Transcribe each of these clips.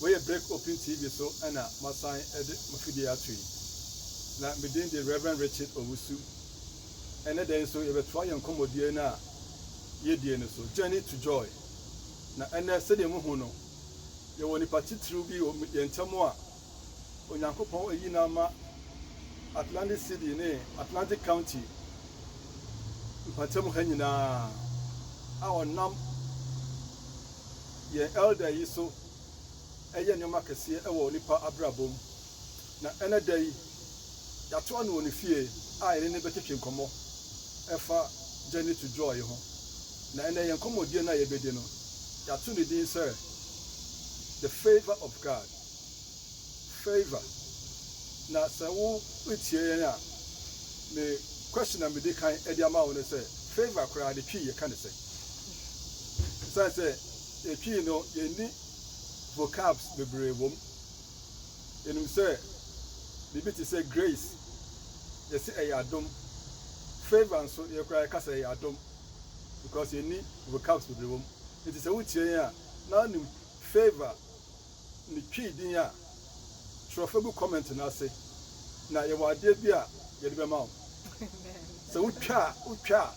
Wei yɛ Break Open TV so na masan de m'afidie ato yi. Na me din de Rev. Richard Owusu. Ɛnnɛ da yi nso yɛbɛtoa yɛn nkɔmmɔdie no a yɛdie no so, Journey to Joy. Na ɛnnɛ sɛdeɛ mohu no, yɛwɔ nipa titiriw bi wɔ yɛn ntam a Onyankopɔn ayi no ama Atlantic City ne Atlantic County mpɔtam ha nyinaa, a ɔnam yɛn elder yi so yɛ nneɛma kɛseɛ wɔ nnipa abrabɔ mu. Na ɛnnɛ da yi, yɛatoa no wɔ ne fie a yɛne no bɛtwetwe nkɔmmɔ ɛfa Journey to Joy ho. Na ɛnnɛ yɛn nkɔmmɔdie no a yɛbɛdi no, yɛato ne din sɛ The Favour of God. Favor na sɛ wo tia yɛn a me question a me di kan de ama wo ne sɛ Favor koraa ne Twi yɛ ka ne sɛn? Ɛsiane sɛ yɛ Twi no yɛ nni vocabs bebree wɔ mu. Yɛ nim sɛ biribi te sɛ Grace yɛ se ɛyɛ adom, Favor nso yɛ koraa yɛ ka sɛ ɛyɛ adom because yɛ nni vocabs bebree wɔ mu. Nti sɛ wo tia yɛn a na wo nim Favor ne Twi din a, twerɛ fa gu comment no ase na yɛwɔ adeɛ bi a yɛde bɛma wo. Sɛ wo twa a, wo twa a,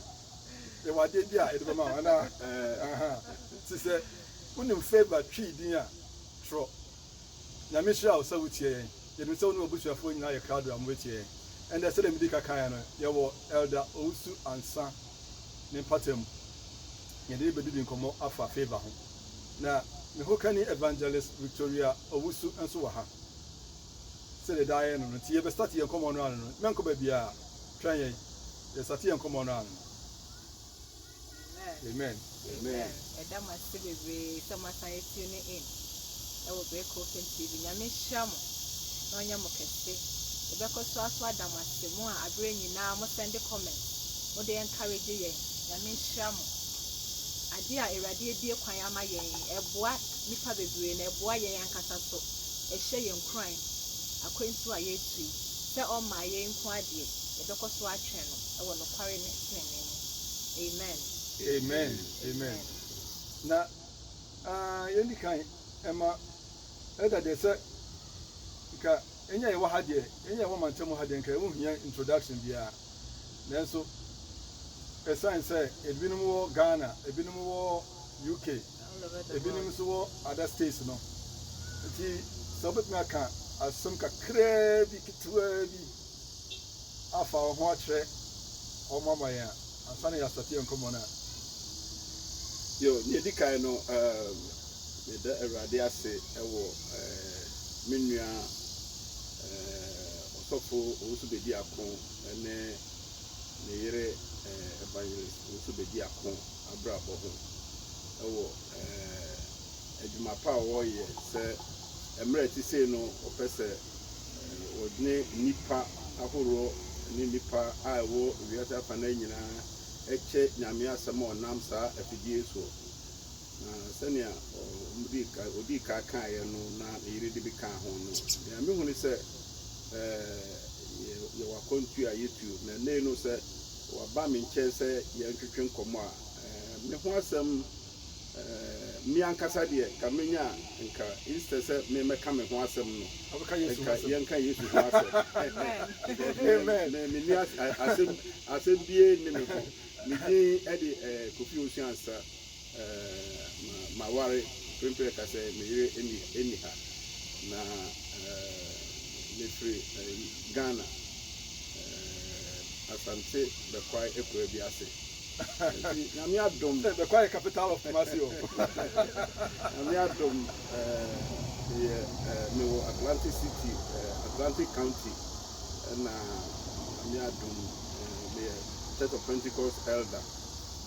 yɛwɔ adeɛ bi a yɛde bɛma wo anaa? Ɛɛ aha. Nti sɛ wo nim Favour Twi din a, twerɔ. Nyame nhyira wo sɛ wo tie yɛn. Yɛnim sɛ wo ne w'abusuafoɔ nyinaa yɛ krado a mo bɛtie yɛn. Ɛndɛ sɛdeɛ me dii ka kaeɛ no, yɛwɔ Elder Owusu Ansah ne mpata mu. Yɛde rebɛdidi nkɔmmɔ afa Favour ho. Na me hokani Evangelist Victoria Owusu nso wɔ ha. Sɛdeɛ daa yɛyɛ no no, nti yɛbɛ start yɛn nkɔmmɔ no ano no. Mɛnkɔ baabiara, twɛn yɛn, yɛ start yɛn nkɔmmɔ no ano. Amen. Amen. Ɛda mo ase bebree sɛ moasan yɛ tune in ɛwɔ Break Open TV. Nyame nhyira mo na ɔnyɛ mo kɛse. Yɛbɛkɔ so aso ada mo ase, mo a aberɛ nyinaa mo sɛnde comment, mode encourage yɛn. Nyame nhyira mo. Adeɛ a Awurade abue kwan ama yɛn yi, ɛboa nnipa bebree na ɛboa yɛn ankasa nso. Ɛhyɛ yɛn nkuran akwantuo a yɛretu yi sɛ ɔmmaa yei nko ara deɛ, yɛbɛkɔ so atwɛn no wɔ nokware ne tenenee mu. Amen. Amen Amen Na aah yɛndi kan ɛma Elder deɛ sɛ nka ɛnyɛ yɛwɔ ha deɛ, ɛnyɛ yɛwɔ mantam ha deɛ nka ɛho nhia introduction biara. Nanso esiane sɛ ebinom wɔ Ghana, ebinom wɔ UK, ebinom nso wɔ other states no nti, sɛ wobɛtumi aka asɛm kakraa bi ketewaa bi afa wo ho akyerɛ wɔn ama yɛn a, ansa na yɛasate yɛn nkɔmmɔ no a. Yo, nea edi kan no, um, meda Awurade ase wɔ uh, me nua eh, ɔsɔfo ɔnso bɛdi ako ne ne yere eh, evangelist ɔnso bɛdi ako abrabɔ ho ɛwɔ eh, adwuma pa a wɔyɛ sɛ mmerɛ ti sei no ɔpɛ sɛ eh, wɔne nnipa ahoroɔ ne nnipa a ɛwɔ wiase afa no nyinaa ɛkyɛ nyame asɛm a ɔnam saa afidie soɔ Na sɛnea wɔdii kan, odii kan kaeɛ no na ne yere de bi kaa ho no, nea mehu ne sɛ ɛɛ yɛwɔ akwantuo a yɛtuo. Na ɛnnɛ no sɛ waba me nkyɛn sɛ yɛntwetwe nkɔmmɔ a, ɛɛ me ho asɛm ɛɛ me ankasa deɛ nka menya nka instead sɛ memmɛka me ho asɛm no, nka yɛnka Yesu ho asɛm. Amen. Menni asɛm asɛm bie nni me ho. Me din de ɛɛ Kofi Owusu Ansah. Eh, ma, maware mprempren ka sɛ me yere nni, nni ha. Na, eh, mefiri, eh, Ghana, eh, Asante Bɛkwae akuraa bi ase. Enti, Nyame adom. Bɛkwae yɛ capital of Kumasi o. Nyame adom, eh, meyɛ, eh, mewɔ Atlantic City, eh, Atlantic County, ɛna Nyame adom, eh, meyɛ Church of Pentecost elder.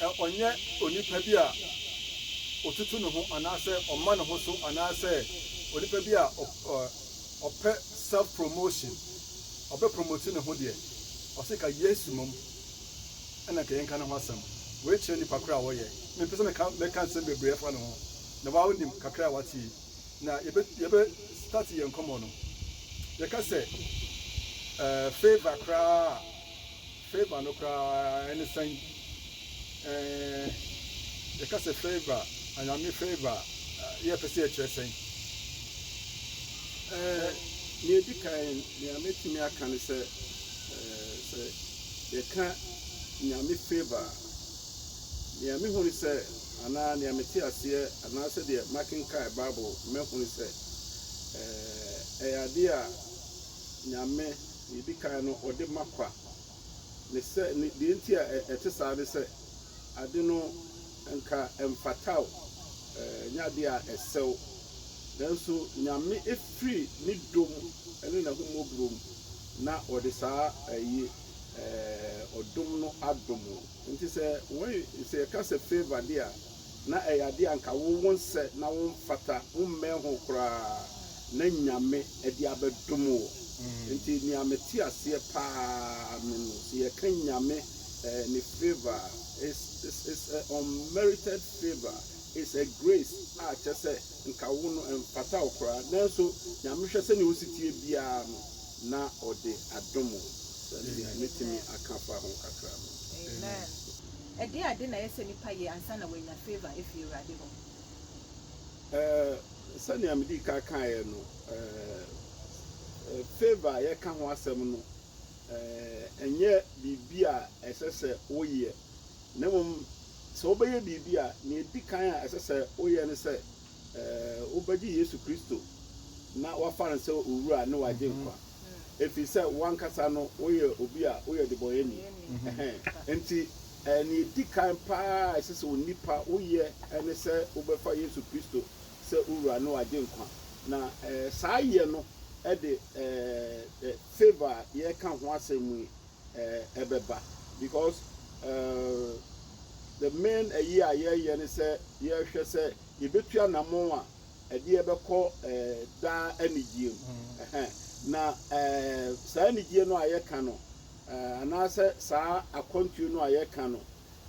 Ɛ Ɔnyɛ onipa bi a ɔtutu ne ho anaasɛ ɔma ne ho so anaasɛ onipa bi a ɔ ɔ ɔpɛ self promotion, ɔbɛ promote ne ho deɛ, ɔse ka Yesu mmom na nka yɛnka ne ho asɛm. Wei kyerɛ nipa korɔ a wɔyɛ. Mempɛ sɛ meka mɛka nsɛm bebree afa ne ho, na wo ara wonim kakra a woate yi. Na yɛbɛ yɛbɛ start yɛn nkɔmmɔ no. Yɛka sɛ ɛɛ favour koraa a, Favour no koraa ne sɛn? Ɛɛɛ, yɛka sɛ favour, anyame favour a, yɛpɛ sɛ yɛkyerɛ sɛn? Ɛɛɛ, nea edi kan, nea mɛtumi aka ne sɛ, ɛɛɛ, sɛ yɛka nyame favour a, nea mehu ne sɛ, anaa nea mete aseɛ, anaa sɛdeɛ makenkan Bible, mahu ne sɛ, ɛɛɛ, ɛyɛ adeɛ a, Nyame, deɛ ɛdi kan no, ɔde ma kwa. Ne sɛ, ne, deɛ nti a ɛte saa ne sɛ, ade no nka ɛmfata wo, ɛnyɛ adeɛ a ɛsɛ wo. Nanso Nyame firi Ne dɔ mu ne N'ahummɔborɔ mu na ɔde saa ayi, ɛɛ, ɔdom no adom wo. Nti sɛ wɔn, sɛ yɛka sɛ favour deɛ a, Na ɛyɛ adeɛ a nka wo wonsɛ na womfata, wommɛn ho koraa, na Nyame de abɛdom wo. Nti nea mete aseɛ paa ne no, sɛ yɛka Nyame ne favour a, it's it's a unmerited favour, it's a grace a kyerɛ sɛ nka wo no ɛmfata wo koraa, nanso Nyame hwɛ sɛdeɛ wosetie biara no na ɔde adom wo. Sɛdeɛ metumi aka fa ho kakra no. Ɛdeɛn ade na ɛyɛ sɛ nipa yɛ ansa na wanya favour afiri Awurade hɔ? Eh, sɛnea medii kan kaeɛ no, eh, eh, favour a yɛka ho asɛm no, eh, ɛnyɛ biribi a ɛsɛ sɛ woyɛ, na mmom sɛ wobɛyɛ biribi a, nea ɛdi kan a ɛsɛ sɛ woyɛ ne sɛ, wobɛgye Yesu Kristo na woafa no sɛ wo Wura ne w'Agyenkwa, ɛfiri sɛ wo ankasa no woyɛ obi a woyɛ ɔdebɔneyɛni. Enti nea ɛdi kan pa ara a ɛsɛ sɛ onipa woyɛ ne sɛ wobɛfa Yesu Kristo sɛ wo Wura ne w'Agyenkwa. Na saa yɛ no de favour a yɛreka ho asɛm yi eh, ɛbɛba because eh, the main ayi a yɛyɛ ne sɛ yɛhwɛ sɛ yɛbɛtu anamon a ɛdeɛ bɛkɔ eh, daa anigyeɛ mu mm. na eh, saa anigyeɛ no a yɛka no eh, anaasɛ saa akwantuo no a yɛka no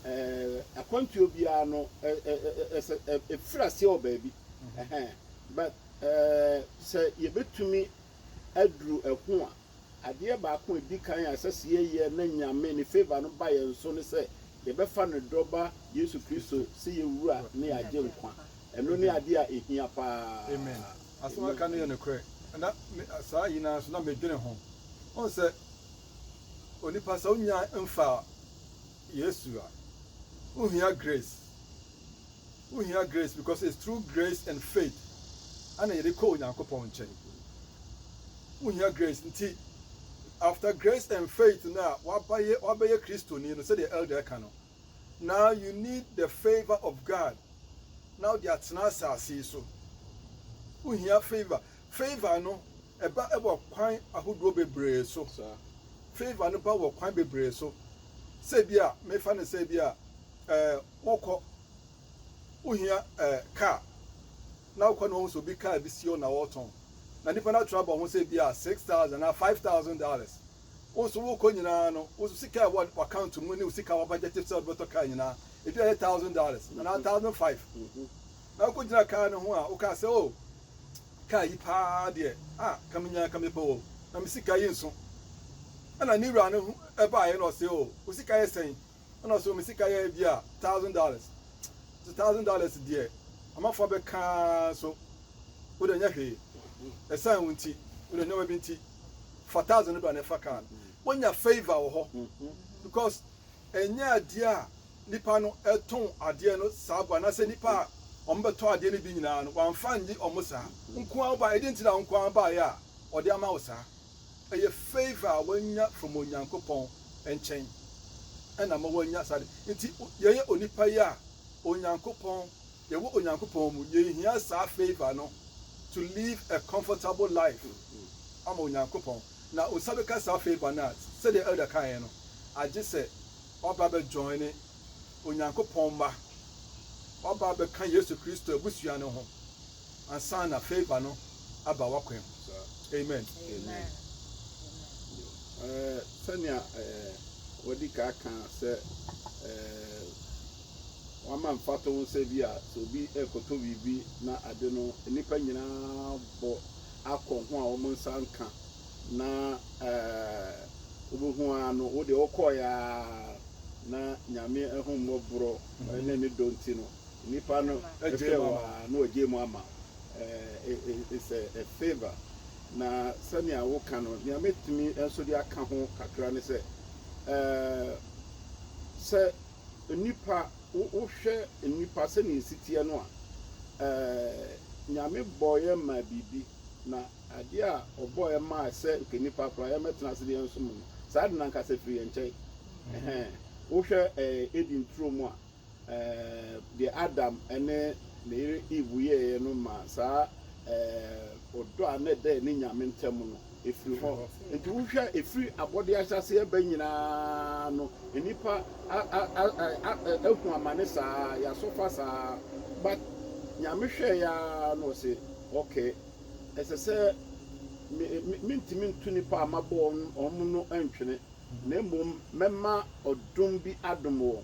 eh, akwantuo biara no ɛfiri aseɛ wɔ baabi mm-hmm. but eh, sɛ yɛbɛtumi aduru ɛho a Adeɛ baako a ɛdi kan a ɛsɛ sɛ yɛyɛ na Nyame ne favour no ba yɛn so ne sɛ yɛbɛfa ne dɔ ba Yesu Kristo sɛ yɛn Wura ne yɛn Agyenkwa. Ɛno ne adeɛ a ɛhia pa ara. Asɛm a aka no yɛ nokorɛ. Na me, saa nyinaa nso na medwene ho. Wohu sɛ, onipa sɛ wonnya mfaa Yesu a, wohia grace. Wohia grace because it's through grace and faith ana yɛde kɔ Onyankopɔn nkyɛn. Wohia grace nti after grace and faith no a wabayɛ wabɛyɛ Kristoni no sɛdeɛ elder ɛka no now you need the favour of God na wode atena asase yi so. Wohia favour. Favour no ɛba wɔ kwan ahodoɔ bebree so. Favour no ba wɔ kwan bebree so. Sɛ bi a mefa no sɛ bi a eh, Wokɔ, wohia eh, car, na wokɔ na wohu sɛ obi car bi si hɔ na ɔretɔn, na nnipa no atra abɔ ho sɛ ebia six thousand anaa five thousand dollars. Wo nso wokɔ nyinaa no, wo sika a ɛwɔ w'account mu ne wo sika a wabadjɛte sɛ wode bɛtɔ car nyinaa, ebi a ɛyɛ thousand dollars anaa mm-hmm. thousand five. Mm-hmm. Na wokɔgyina car no ho a, wokaa sɛ, oh, car yi paa deɛ, ah, ka menya ka mepɛ o, na me sika yi nso. Ɛna ne wura no baeɛ na ɔse, oh, wo sika yɛ sɛn? Ɛna so me sika yɛ ebi a thousand dollars. So thousand dollars deɛ amafoɔ abɛka so wode nyɛ hwee. Ɛsan wo nti wode nneɛma bi nti fa thousand no bra na ɛfa kaa no. Wonya favour wɔ hɔ because ɛnyɛ adeɛ a nipa no ɛtɔn adeɛ no saa bɔ anaasɛ nipa a wɔn bɛtɔ adeɛ no bi nyinaa no wɔn afa nye wɔn saa. Nkoa ba ɛde nti na nkoa baayɛ a ɔde ama wo saa. Ɛyɛ favour a wanya from Onyankopɔn nkyɛn ɛna ama wanya saa ade nti yɛyɛ onipa yi a Onyankopɔn yɛwɔ Onyankopɔn mu yɛnhia saa favour no to live a comfortable life ama Onyankopɔn na wo nsa bɛka saa favour no a sɛdeɛ Elder kaeɛ no agye sɛ waba bɛ joine Onyankopɔn mma waba bɛka Yesu Kristo abusua no ho ansa na fei ba no aba w'akwan mu. Amen. Amen. Eh, sɛnea eh, wɔde ka ka sɛ eh, wama mfato ho sɛ bi a sɛ obi ɛkɔtɔ biribi na ade no nnipa nyinaa bɔ akɔ ho a wɔn nsa nka na eh, wobɛhu ara no wode wokɔeɛ a na nyame ahummɔborɔ ne ne dɔ nti no Nipa no hwɛ wo a na ɔgyae mu ama wo. It's a favour. Na sɛnea woka no, nea mɛtumi nso de aka ho kakra ne sɛ, sɛ nnipa, wohwɛ nnipa sɛnea ɛsi teɛ no a, Nyame bɔeɛ maa biribi, na adeɛ a Ɔbɔeɛ maa sɛ nka nnipa koraa yɛmmɛtena ase na yɛnsom no, saa ade no ankasa firi yɛn nkyɛn. Wohwɛ Eden turo mu a, Deɛ Adam ne ne yere Eve yɛeɛ no maa saa ɔdɔ a na ɛda ɛne Nyame ntam no firii hɔ. Enti wohwɛ a, ɛfiri abɔdeɛ ahyɛaseɛ ba nyinaa no, nnipa ahu amane saa, yɛasɔfa saa. But Nyame hwɛeɛ ara na ɔse, Okay, ɛsɛ sɛ mentumi nto nnipa a mabɔ wɔn no ntwene, na mmom mɛma ɔdom bi adom wɔn.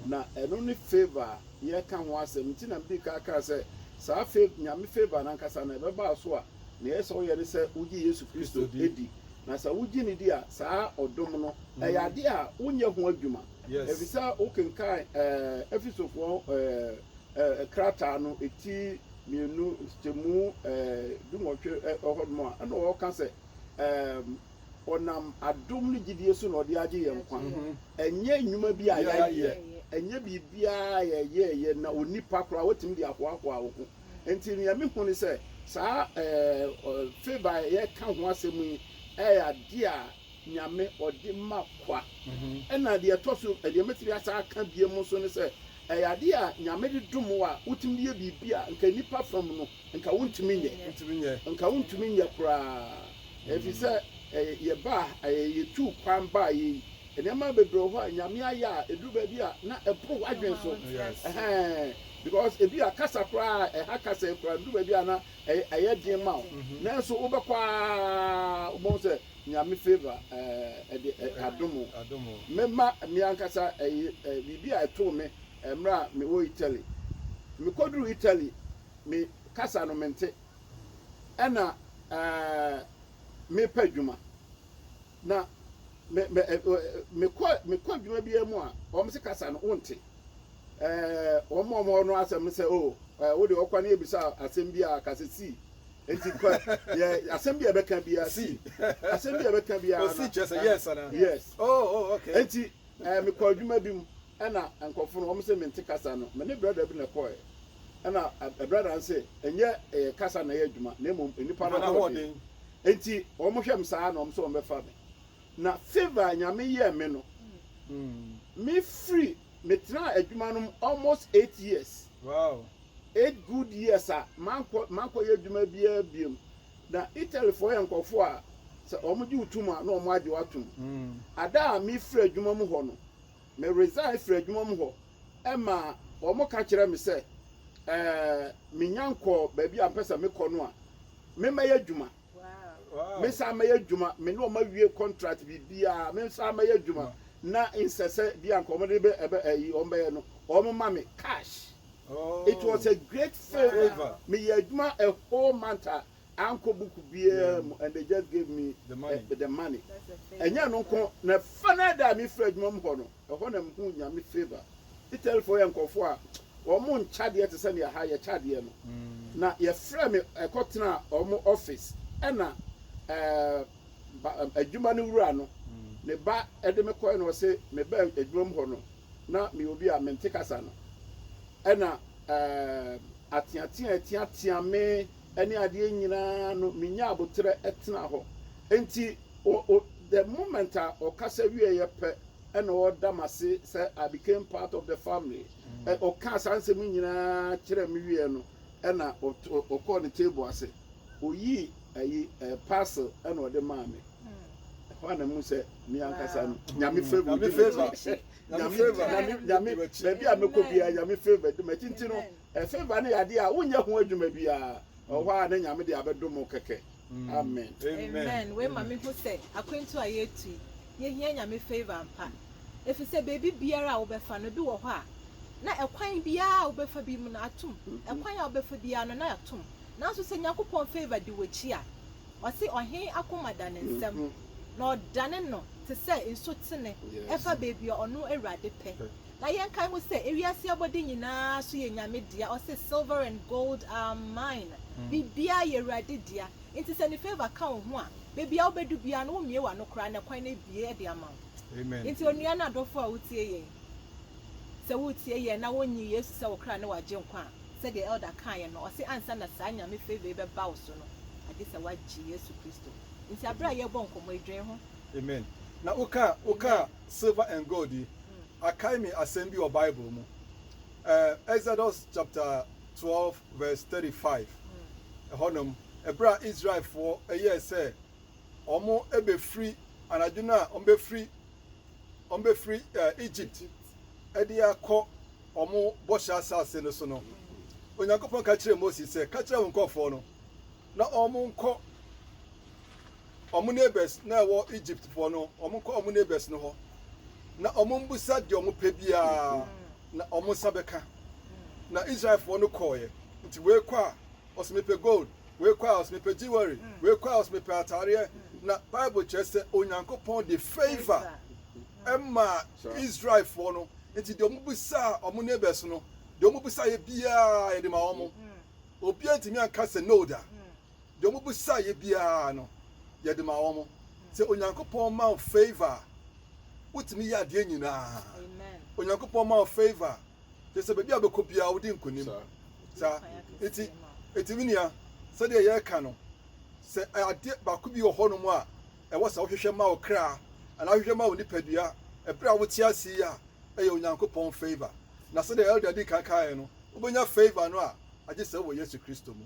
Na ɛno ne favour a yɛreka ho asɛm. Nti na medii kan kaa sɛ, saa fav, Nyame favour no ankasa no, ɛbɛba wo so a, nea ɛyɛ sɛ woyɛ ne sɛ wogye Yesu Kristo di. Na sɛ wogye no di a, saa ɔdom no, ɛyɛ adeɛ a wonyɛ ho adwuma. Ɛfisɛ wokenkan Efesofoɔ krataa no ti mmienu, nkyekyɛmu dunwɔtwe hɔnom a, ɛna wɔka sɛ, Ɔnam adom ne gyidie so na ɔde agye yɛn nkwa. Ɛnyɛ nnwuma bi a yɛayɛ, ɛnyɛ biribiara a yɛyɛeɛ na onipa koraa watumi de ahoahoa wo ho. Enti deɛ mehu ne sɛ, saa favour a yɛka ho asɛm yi yɛ adeɛ a Nyame ɔde ma kwa. Ɛna deɛ ɛtɔ so, deɛ mɛtumi asan aka bio nso ne sɛ, ɛyɛ adeɛ a Nyame de dom wo a wotumi de yɛ biribi a nka nnipa fam no, Nka wontumi nyɛ. Wontumi nyɛ. Nka wontumi nyɛ koraa. Efisɛ ɛyɛ yɛbaa ha, ɛyɛ yetuu kwan baeɛ yi. Nneɛma bebree wɔ hɔ a Nyame ayɛ a ɛduru baabi a na ɛboro w'adwene so. Ɛhɛn. Because ebi a kasa koraa a ɛha kasa yi koraa ɛduru baabi a na ɛyɛ ɛyɛ den ma wo. Nanso wobɛkɔ ara wobɛhu sɛ Nyame favour ɛɛ ɛde ɛ adom wo. Adom wo. Me ma me ankasa ɛyɛ ɛ biribi a ɛtoo me ɛmerɛ a mewɔ Italy. Mekɔduruu Italy. me kasa no mente ɛna eh, me pɛ adwuma na me me eh, me kɔ me kɔ adwuma bi mu a wɔn se kasa no wonte eh, wɔn a wɔn no asɛm no sɛ o oh, eh, wo de ɔkwa ne ebisa asɛm bi a kasa si nti kɔ yɛ asɛm bi a ɛbɛka bi a si asɛm bi a ɛbɛka bi a na si kyerɛ sɛ yes ana yes oh oh okay nti eh, me kɔ adwuma bi mu. Ɛna nkorɔfo no wɔse mente kasa no, me ne brada bi na ɛkɔɔɛ. Ɛna brada no se ɛnyɛ kasa na ɛyɛ adwuma na mmom nnipa no ahoɔden. Enti wɔn hwɛ me saa na wɔn se wɔn bɛfa me. Na favour a Nyame yɛɛ me no, me firi me tenaa adwuma no mu almost eight years, eight good years a mankɔ mankɔ yɛ adwuma biara biom. Na Italy foɔ yɛ nkorɔfoɔ a sɛ wɔn gye wo tum a na wɔn agye wo atom. Ada a me firi adwuma mu hɔ no, Me resign firi adwuma mu hɔ ɛma wɔn ka kyerɛ me sɛ ɛɛ me nya nkɔ baabi a mpɛ sɛ me kɔ no a me mɛyɛ adwuma me nsa mɛyɛ adwuma me ne wɔn awie contract biribiara me nsa mɛyɛ adwuma na nsɛsɛ bi a nka wɔn de bɛ ɛbɛ ɛyi wɔn bɛyɛ no wɔn ma me cash oh. it was a great favour me yɛ adwuma a whole month a ankɔ book biara mu and they just gave me the money, uh, the money. ɛnyɛ no nko na final da a mefiri adwuma mu hɔ no ɛhɔ na mehu nyame favor italyfoɔ yɛ nkɔfoɔ a wɔn nkyadeɛ te sɛ nea ha yɛ kyadeɛ no mm. na yɛfrɛ me ɛkɔ tena wɔn office ɛna ɛɛ adwuma no wura no mm. ne ba ɛde me kɔɛ na ɔse me ba adwuma mu hɔ no na me obi a mente kasa no ɛna ɛɛ ateatea atiatea me ne adeɛ nyinaa no menya aboterɛ tena hɔ. Enti o, o, the moment a ɔkasa wieeɛ pɛ na ɔda m'ase sɛ I became part of the family. Ɛ, Ɔkaa saa nsɛm yi nyinaa kyerɛɛ me wieeɛ no, ɛna ɔt, ɔ, ɔkɔɔ ne table ase. Ɔyii ayi, ɛ, parcel na ɔde maa me. Ɛhɔ ara na mehu sɛ me ankasa no, Nyame favour di m'akyi. Nyame, Nyame, Nyame, baabi a mɛkɔ biara, Nyame favour di m'akyi. Nti no, Silver no yɛ adeɛ a wonyɛ ho adwuma biara wɔ hɔ a na Nyame de abɛdom wo kɛkɛ. Amen. Amen wei ma me hu sɛ akwantu a yɛretu yi yɛhia Nyame favor ampa efisɛ baabi biara a wobɛfa no ebi wɔ hɔ a na ɛkwan biara a wobɛfa bi mu no atom ɛkwan a wobɛfa biara no na atom nanso sɛ Nyankopɔn favor di w'akyi a ɔse ɔhen akoma da ne nsam na ɔdane no te sɛ nsutene ɛfa baabi a ɔno Awurade pɛ Na yɛnkae ho sɛ ewiase abɔde nyinaa so yɛ Nyame dea, ɔse silver and gold are mine, biribiara yɛ Awurade dea, nti sɛ ne favour ka wo ho a, baabi a wobɛdu biara no wo mmie w'ano koraa na kwan no abue de ama wo. Nti onua ne adɔfoɔ a wotie yɛn, sɛ woretie yɛn na wonnye Yesu sɛ wo kra ne w'agyenkwa a, sɛdeɛ Elder kaeɛ no, ɔse ansa na saa Nyame favour yi bɛba wo so no, agye sɛ woagye Yesu Kristo. Nti aberɛ a yɛrebɔ nkɔmmɔ yi, dwen ho. Amen. Na wokaa, wokaa Silver and gold yi akae me asɛm bi wɔ Bible mu. Ɛɛ, Exodus chapter twelve verse thirty-five, ɛhɔnom, ɛberɛ a Israelfoɔ ɛyɛɛ sɛ wɔn ɛbɛfiri anadwo no a wɔn bɛfiri wɔn bɛfiri ɛɛ Egypt ɛde akɔ wɔn bɔhyɛ asase no so no, Onyankopɔn ka kyerɛɛ Moses sɛ, ka kyerɛ wo nkorɔfoɔ no. na wɔnkɔ wɔn neighbors na ɛwɔ Egyptfoɔ no, wɔnkɔ wɔn neighbors no hɔ, na wɔmmisa deɛ wɔpɛ biara, na wɔn nsa bɛka. Na Israelfoɔ no kɔɔeɛ, nti wei kɔ a, ɔse mepɛ gold, wei kɔ a, ɔse mepɛ jewelry, wei kɔ a, ɔse mepɛ ataareɛ. Na Bible kyerɛ sɛ Onyankopɔn de favor ɛmaa Israelfoɔ no, nti deɛ wɔbisaa wɔn neighbors no, deɛ wɔbisaeɛ biara yɛde ma wɔn. Obiara antumi anka sɛ no da. Deɛ wɔbisaeɛ biara no, yɛde maa wɔn. Sɛ Onyankopɔn ma wo favour a, wotumi yɛ adeɛ nyinaa. Onyankopɔn ma wo favour a, kyerɛ sɛ baabi a wobɛkɔ biara wodi nkonim. Saa nti, nti me nua, sɛdeɛ yɛreka no, sɛ adeɛ baako bi wɔ hɔnom a ɛwɔ sɛ wohwehwɛ ma wo kra anaa wohwehwɛ ma wo nipadua ɛberɛ a wote ase yi a, ɛyɛ Onyankopɔn favour. Na sɛdeɛ Elder di kan kaeɛ no, Wobɛnya favour no a agye sɛ wowɔ Yesu Kristo mu.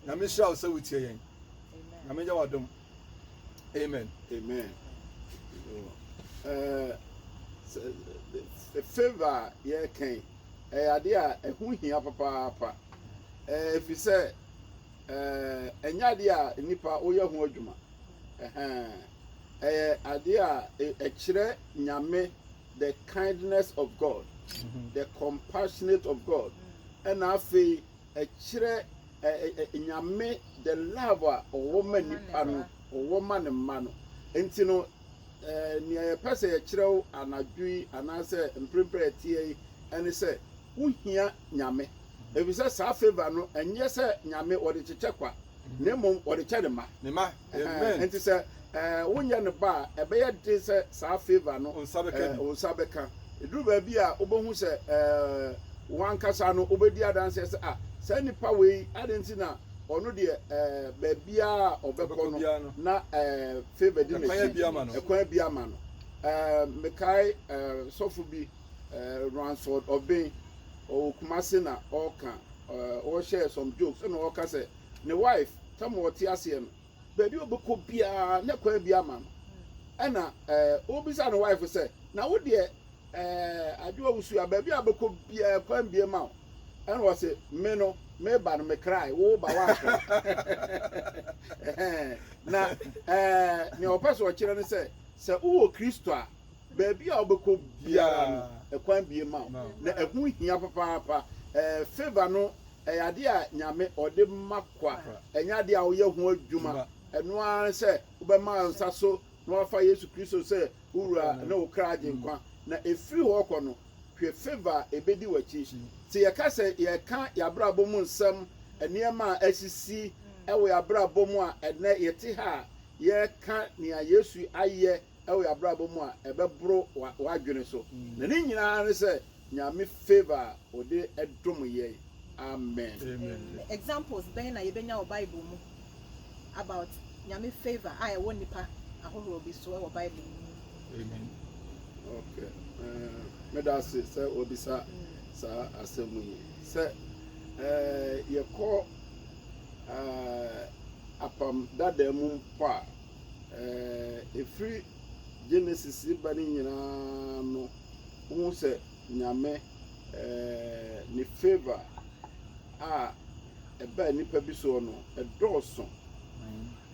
Nyame nhyira wo sɛ wotie yɛn. Nyame nyɛ w'adom. Amen. Amen. Uh, favour a yɛreka yi ɛyɛ adeɛ a ɛho hia papaapa ɛfiri sɛ ɛnyɛ adeɛ a nnipa woyɛ ho adwuma ɛyɛ adeɛ a ɛkyerɛ nyame the kindness of God, the compassionate of God, ɛna afei ɛkyerɛ ɛɛ nyame the love a ɔwɔ ma nipa no, ɔwɔ ma ne mma no. Nti no ɛɛ nea yɛpɛ sɛ yɛkyerɛ wo anadwo yi anaasɛ mprempren a ɛteɛ yi ɛne sɛ wohia nyame. Efisɛ saa favour no ɛnyɛ sɛ nyame ɔde kyekyɛ kwa, na mmom ɔde kyɛ ne mma. Amen. Nti sɛ wonyɛ no ba a, ɛbɛyɛ den sɛ saa favour no wo nsa bɛka bi. Wo nsa bɛka. Ɛduru baabi a wobɛhu sɛ w'ankasa no wobɛdi adanseɛ sɛ ah saa nipa wei adɛn nti na ɔno deɛ baabiara a ɔbɛkɔ no na favour di n'akyi ɛkwan bi ama no. Mekae sɔfo bi Ransford Obeng ɔwɔ Kumasi na ɔka ɔhyɛɛ some jokes ɛna ɔka sɛ ne wife tam a ɔte aseɛ no baabi a ɔbɛkɔ biara na kwan bi ama no ɛna ɛɛ ɔbisa ne wife sɛ na wo deɛ ɛɛ adwoa wusu a baabi a ɔbɛkɔ biara kwan bi ma wo ɛna ɔsɛ me no me ba no me kraa wo ba wa akra na ɛɛ nea ɔpɛ so ɔkyerɛ no sɛ sɛ wowɔ kristo a baabi a ɔbɛkɔ biara no ɛkwan bi ma wo na ɛho hia papaapa ɛɛ favor no Ɛyɛ adeɛ a Nyame ɔde ma kwa, ɛnyɛ adeɛ a woyɛ ho adwuma. Ɛno ara ne sɛ wobɛma wo nsa so na woafa Yesu Kristo sɛ wo Wura ne wo kra Agyenkwa. Na ɛfiri hɔ rekɔ no, hwɛ favour a ɛbɛdi w'akyi. Sɛ yɛka sɛ yɛreka yɛabrabɔ mu nsɛm, nneɛma a asisi wɔ yɛabrabɔ mu a ɛnnɛ yɛte ha a yɛreka nea Yesu ayɛ wɔ yɛn abrabɔ mu a ɛbɛboro w'adwene so na ne nyinaa ne sɛ Nyame favour a ɔde dom yɛn Amen. Examples bɛn na yɛbɛnya wɔ Bible mu about Nyame favour a ɛwɔ nnipa ahorow bi so wɔ Bible mu? Amen. Ok, meda ase sɛ wabisa saa asɛm yi. Sɛ yɛkɔ apam dada mu mpo a, Ɛɛ, firi Genesis reba no nyinaa no, wohu sɛ Nyame, ɛɛ, ne favour a ɛbaa nnipa bi soɔ no, ɛdɔɔso.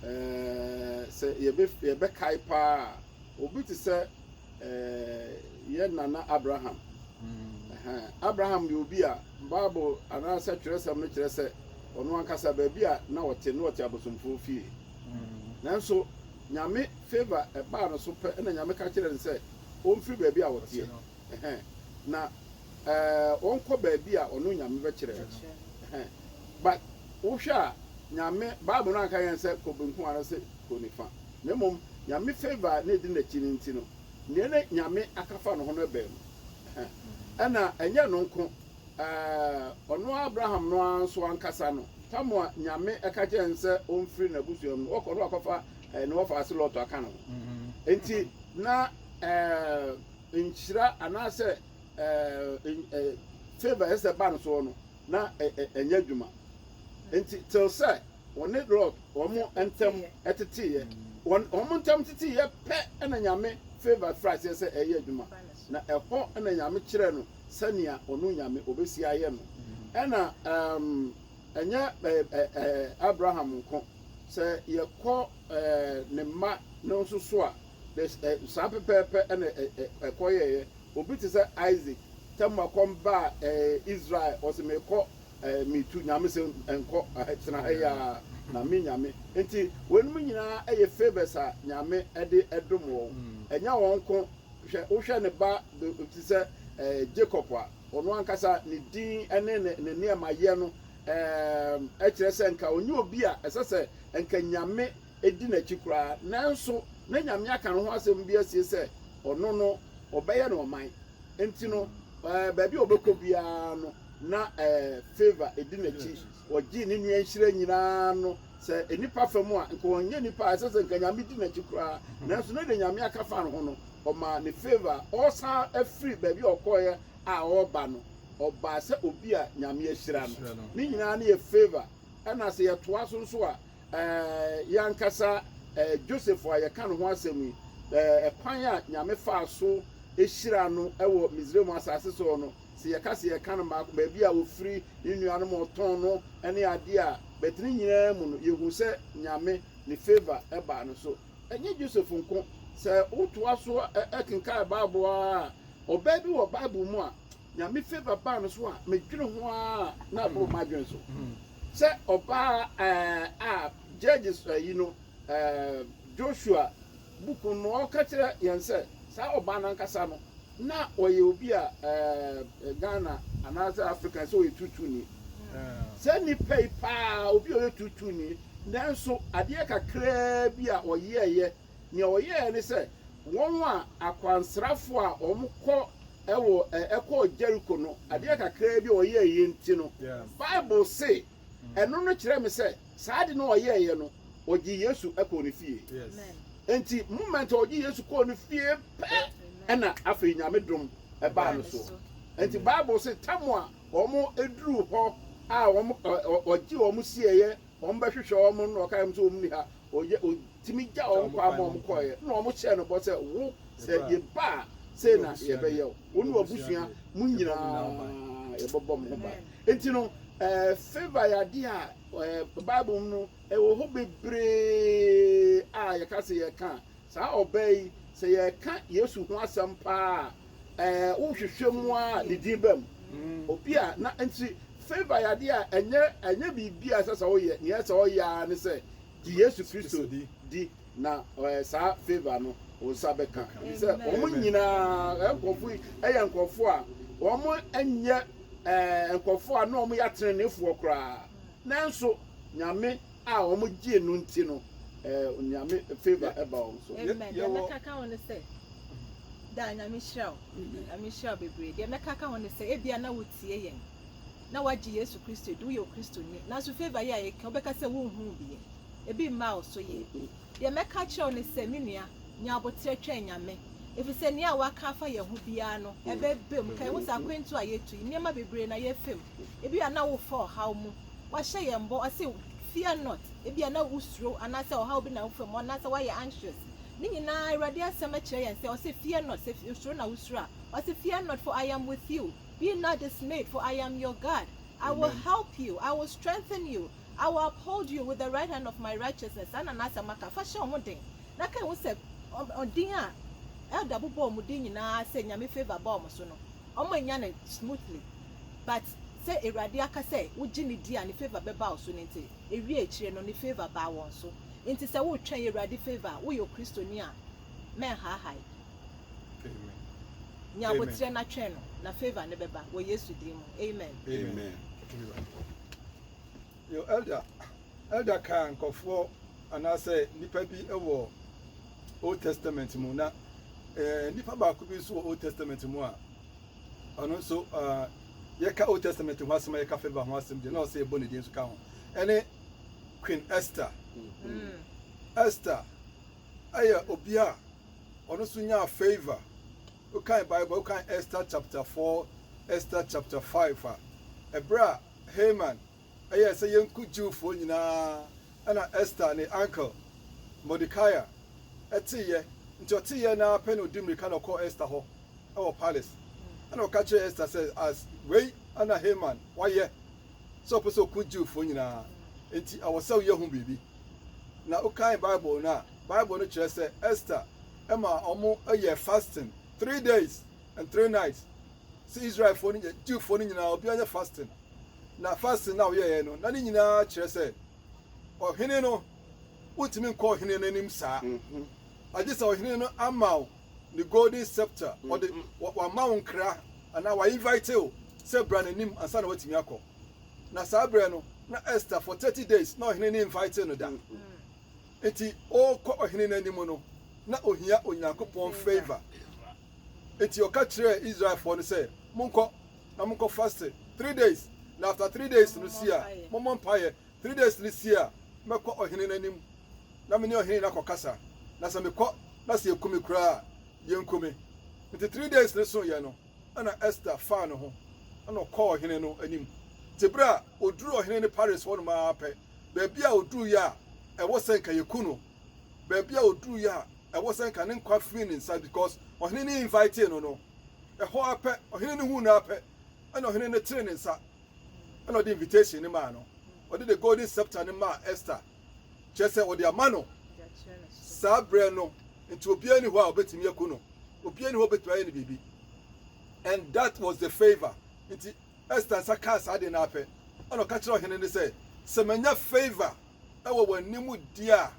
Ɛɛ, sɛ yɛbɛ, yɛbɛkae paa a, obi te sɛ, ɛɛ, yɛ nana Abraham. Ɛhɛn, Abraham yɛ obi a, Bible anaasɛ twerɛsɛm no kyerɛ sɛ, ɔno ankasa baabi a na ɔte, na ɔte abosomfoɔ fie. Nanso Nyame favour baa no so pɛ na Nyame ka kyerɛɛ no sɛ ɔmfiri baabi a ɔteɛ na ɔnkɔ baabi a ɔno Nyame bɛkyerɛ no. But wohwɛ a Nyame, Bible no anka yɛn sɛ kɔ benkum anaasɛ kɔ nifa. Na mmom Nyame favour a na ɛdi n'akyi no nti no, deɛ na Nyame aka fa ne ho no ɛbaa mu. Ɛna ɛnyɛ ɛno nko. Ɛɛ, ɔno Abraham no ara nso ankasa no, tam a Nyame ɛka kyerɛɛ no sɛ ɔmfiri n'abusuam no, ɔkɔ no akɔfa ɛɛ, ne wɔfaase Lot aka ne ho. Enti, na ɛɛ, nhyira anaasɛ ɛɛ, ɛɛ, favour ɛsɛ sɛ ba no soɔ no, na ɛ, ɛ, ɛnyɛ adwuma. Enti, till sɛ ɔne Lot wɔn ntam teteeɛ, wɔn, wɔn ntam teteeɛ pɛ na Nyame favour firii aseɛ sɛ ɛreyɛ adwuma. Na ɛhɔ na Nyame kyerɛɛ no sɛnea ɔno Nyame obesi ayɛ no. Ɛna ɛɛm ɛnyɛ ɛɛɛ Abraham nko, sɛ yɛkɔ ɛɛɛ ne mma no nso so a, there's ɛ saa pɛpɛɛpɛ ɛna ɛ ɛ ɛkɔyɛeɛ. Obi te sɛ Isaac, tɛmua kɔm baa ɛɛɛ Israel, ɔse mekɔ ɛɛɛ metu, Nyame se nkɔ, ɛhɛ tena ha yi ara na me Nyame. Nti weinom nyinaa ɛyɛ favours a Nyame ɛde ɛdom wɔn. Ɛnyɛ wɔn nko Hwɛ, wohwɛ ne ba te sɛ Jacob a, ɔno ankasa ne din ne ne nneɛmayɛ no kyerɛ sɛ nka ɔnyɛ obi a ɛsɛ sɛ nka Nyame di n'akyi koraa, nanso na Nyame aka ne ho asɛm bi asie sɛ ɔno no ɔbɛyɛ no ɔman, nti no baabi a ɔbɛkɔ biara no na favour di n'akyi, ɔgyee ne nua nhyira nyinaa no Sɛ nnipa fa mu a, nka ɔnyɛ nipa a ɛsɛ sɛ nka Nyame di n'akyi koraa, nanso ne de Nyame aka fa ne ho no, ɔmaa no favour a ɔresan afiri baabi a ɔkɔeɛ a ɔreba no, ɔbaa sɛ obi a Nyame ahyira no. Ne nyinaa no yɛ favour. Ɛna sɛ yɛtoa so nso a, yɛn ankasa Joseph a yɛka ne ho asɛm yi, kwan a Nyame faa so hyiraa no wɔ Misraim asase so hɔ no, Sɛ yɛka sɛ yɛka no mmaako, baabi a ɔfiri, ne nnuanom a ɔtɔn no, ne adeɛ a, but ne nyinaa mu no, yɛhu sɛ Nyame ne favour baa no so. Ɛnyɛ Joseph nko. Sɛ wotoa so kenkan Bible ara a, ɔbaa bi wɔ Bible mu a, Nyame favour baa no so a, medwene ho ara a, na aboro m'adwene so. Sɛ ɔbaa a Judges ayi no, Joshua Book no ɔka kyerɛ yɛn sɛ saa ɔbaa no ankasa no na ɔyɛ obi a ɛɛ Ghana anaasɛ Africa sɛ ɔyɛ tuutuuni. Saa nipa yi paa obi a ɔyɛ tuutuuni nanso adeɛ kakraa bi a ɔyɛɛyɛ nea ɔyɛɛ ne sɛ wɔn a akwansrafo a wɔn kɔ ɛwɔ ɛkɔɔ Jericho no adeɛ kakraa bi a ɔyɛɛyɛ nti no Bible se ɛno no kyerɛ me sɛ Saa ade no a ɔyɛeɛ no, ɔgyee Yesu kɔɔ ne fie. Enti moment a ɔgyee Yesu kɔɔ ne fie pɛ, ɛna afei Nyame dom baa no so. Enti Bible se tam a wɔn duruu hɔ a wɔn ɔgye wɔn sieeɛ, wɔn bɛhwehwɛ wɔn no na ɔkae wɔn sɛ wɔn nni ha, ɔyɛ ɔtumi gya wɔn kwan ma wɔn kɔeɛ na wɔn hyɛɛ no bɔ sɛ wo sɛ yɛba a sei na yɛbɛyɛ wo, wo ne w'abusua mo nyinaa yɛbɛbɔ mo ho ban. Nti no, favour yɛ adeɛ a Bible mu no ɛwɔ hɔ bebree a yɛka sɛ yɛka a, saa ɔbaa yi, sɛ yɛka Yesu ho asɛm pa ara a, wohwehwɛ mu ara a, ne din ba mu. Obi a na nti favour yɛ adeɛ a ɛnyɛ ɛnyɛ biribi a ɛsɛ sɛ woyɛ, nea ɛsɛ sɛ ɔyɛ ara ne sɛ Gye Yesu Kristo di na saa favour no wo nsa bɛka. Ɛfiri sɛ wɔn nyinaa nkurɔfoɔ yi yɛ nkurɔfoɔ a wɔn nyɛ nkurɔfoɔ a na wɔn yɛ ateneneefoɔ koraa. Nanso Nyame a wɔn gyee no nti no Nyame favour ɛba wɔn so. Amen. Deɛ mɛka ka ho ne sɛ daa Nyame hyira wo. Nyame hyira wo bebree. Deɛ mɛka ka ho ne sɛ ebia na wotie yɛn na wagye Yesu Kristo adi, woyɛ Okristoni, nanso favour yi a yɛka yi, wobɛka sɛ wonhuu bi ɛ? Ebi mmaa wo so yɛ? Deɛ mɛka akyerɛ wo ne sɛ, me nua, nya aboterɛ twɛn Nyame, ɛfiri sɛ nea waka afa yɛn ho biara no, ɛbɛba mu. Ka yɛn ho sɛ akwantuo a yɛatu yi, nneɛma bebree na yɛafa mu. Ebia na wofa ɔhaw mu. Wahyɛ yɛn bɔ, ɔse, Fear not. Ebia na wosuro anaasɛ ɔhaw bi na wofa mu anaasɛ woayɛ anxious. Ne nyinaa, Awurade Asɛm kyerɛ yɛn sɛ, ɔse, Fear not, sɛ osuro na wosuro a, ɔse, Fear not, for I am with you. Be not dismayed, for I am your God. I will help you, I will strengthen you, I will uphold you with the right hand of my righteousness. Saa na n'asɛm aka. Fa hyɛ wo ho den, na kae ho sɛ ɔdin a Elder bobɔ wɔn din nyinaa sɛ Nyame favour ba wɔn so no, wɔannya no smoothly. But sɛ Awurade aka sɛ wogye no di a ne favour bɛba wo so no nti, ewiee akyire no, ne favour baa wɔn so. Nti sɛ woretwɛn Awurade favour a, woyɛ Okristoni a, mɛnhaahae. Nya aboterɛ na twɛn no na favour no bɛba wɔ Yesu din mu amen. Amen Yo Elder Elder kaa nkorɔfoɔ anaasɛ nipa bi wɔ Old Testament mu na eh, nipa baako bi nso wɔ Old Testament mu a ɔno nso uh, yɛka Old Testament ho asɛm a yɛka favour ho asɛm deɛ na ɔsɛ yɛbɔ ne din nso ka ho ɛne Queen Esther mm. Esther ɛyɛ obi a Ɔno nso nyaa favour. Wokan Bible a, wokan Esther chapter four, Esther chapter five a, ɛberɛ a Haman yɛɛ sɛ yɛnku Jewfoɔ nyinaa, ɛna Esther ne uncle Mordecai teeɛ. Nti ɔteeɛ no ara pɛ na ɔdi mmirika na ɔkɔɔ Esther hɔ wɔ palace. Ɛna ɔka kyerɛɛ Esther sɛ, as wei na Haman wayɛ. sɛ ɔpɛ sɛ ɔko Jewfoɔ nyinaa, enti ɛwɔ sɛ woyɛ ho biribi. Na wokan Bible no a, Bible no kyerɛ sɛ Esther ma wɔyɛɛ fasting three days and three nights. Sɛ Israelfoɔ no, Jewfoɔ no nyinaa, obiara nyɛ fasting. Na fasting no a wɔyɛeɛ no, na ne nyinaa kyerɛ sɛ ɔhene no, wontumi nkɔ ɔhene no anim saa. Mhm. Agye sɛ ɔhene no ama wo ne golden scepter, ɔde wama wo nkra anaa wa invite wo sɛ bra n'anim ansa na watumi akɔ. Na saa berɛ no na Esther for 30 days na ɔhene ne invite no da. Nti ɔrekɔ ɔhene no anim no na ohia Onyankopɔn favor. Nti ɔka kyerɛɛ Israelfoɔ no sɛ monkɔ na monkɔ faste three days na after three days no si a mommɔ mpaeɛ Three days no sie a, mɛkɔ ɔhene no anim na me ne ɔhene no akɔkasa, na sɛ mekɔ na sɛ yɛku me koraa a, yɛnku me. Enti three days no soeɛ no, ɛnna Ester faa ne ho, ɛnna ɔkɔɔ ɔhene no anim. Enti berɛ a ɔduruu ɔhene no pares hɔnom ara pɛ, baabi a ɔduruiɛ a, ɛwɔ sɛ nka yɛku no. Baabi a ɔduruiɛ a, ɛwɔ sɛ nka ne nkwa firi ne nsa because ɔhene no invitee no no. Ɛhɔ ara pɛ, ɔhene no huu no ara pɛ, ɛnna ɔhene no tee ne nsa. ɛna ɔde invitation no maa no ɔde the golden scepter no maa Esther kyerɛ sɛ ɔde ama no saa berɛ no nti obiara ni hɔ a ɔbɛtumi aku no obiara ni hɔ ɔbɛtumi ayɛ no biribi and that was the favor nti Esther nsa kaa saa de no apɛ ɛna ɔka kyerɛ ɔhene no sɛ sɛ manya favor ɛwɔ wɔn anim di a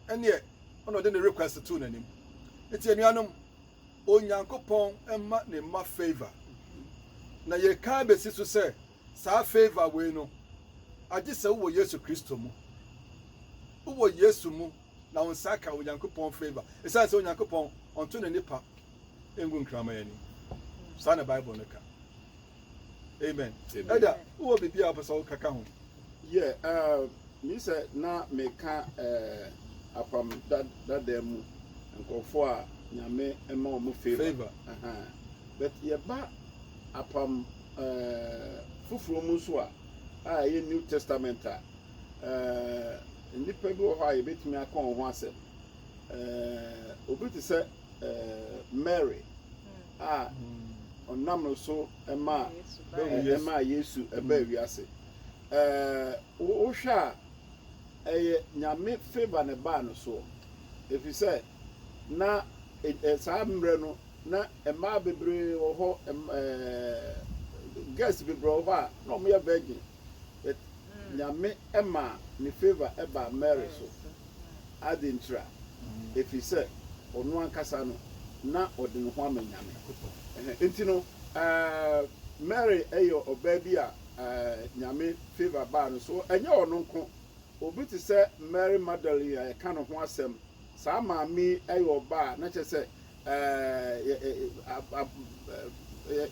ɛneɛ ɛna ɔde ne request too n'anim nti anuanom Onyankopɔn mma ne mma favour, na yɛrekan bɛsi so sɛ saa favour wei no, agye sɛ wowɔ Yesu Kristo mu. Wowɔ Yesu mu na wo nsa aka Onyankopɔn favour, ɛsiane sɛ Onyankopɔn ɔnto ne nnepa ngu nkraman ani. Saa na Bible no ka. Amen. Ɛda, wowɔ biribi a wopɛ sɛ woka ka ho? Yɛ, me sɛ na meka apam dada mu nkurɔfoɔ a Nyame ma wɔn favor. But yɛba apam foforɔ mu nso a, a ɛyɛ New Testament a, nnipa bi wɔ hɔ a yɛbɛtumi aka wɔn ho asɛm. Obi te sɛ. Mary a ɔnam no so maa Yesu baa wiase. Wohwɛ a, ɛyɛ Nyame favour na ɛbaa no soɔ? Efisɛ na saa mmerɛ no na mmaa bebree wɔ hɔ, girls bebree wɔ hɔ a na wɔyɛ virgin. Nyame maa ne favour baa Mary so. Adentira? Efisɛ ɔno ankasa no na ɔde ne ho ama Nyame. Enti no, Mary yɛ ɔbaa bi a Nyame favour baa no so. Ɛnyɛ ɔno nko, obi te sɛ Mary Magdalene a yɛka ne ho asɛm, saa maame yi yɛ ɔbaa a na kyerɛ sɛ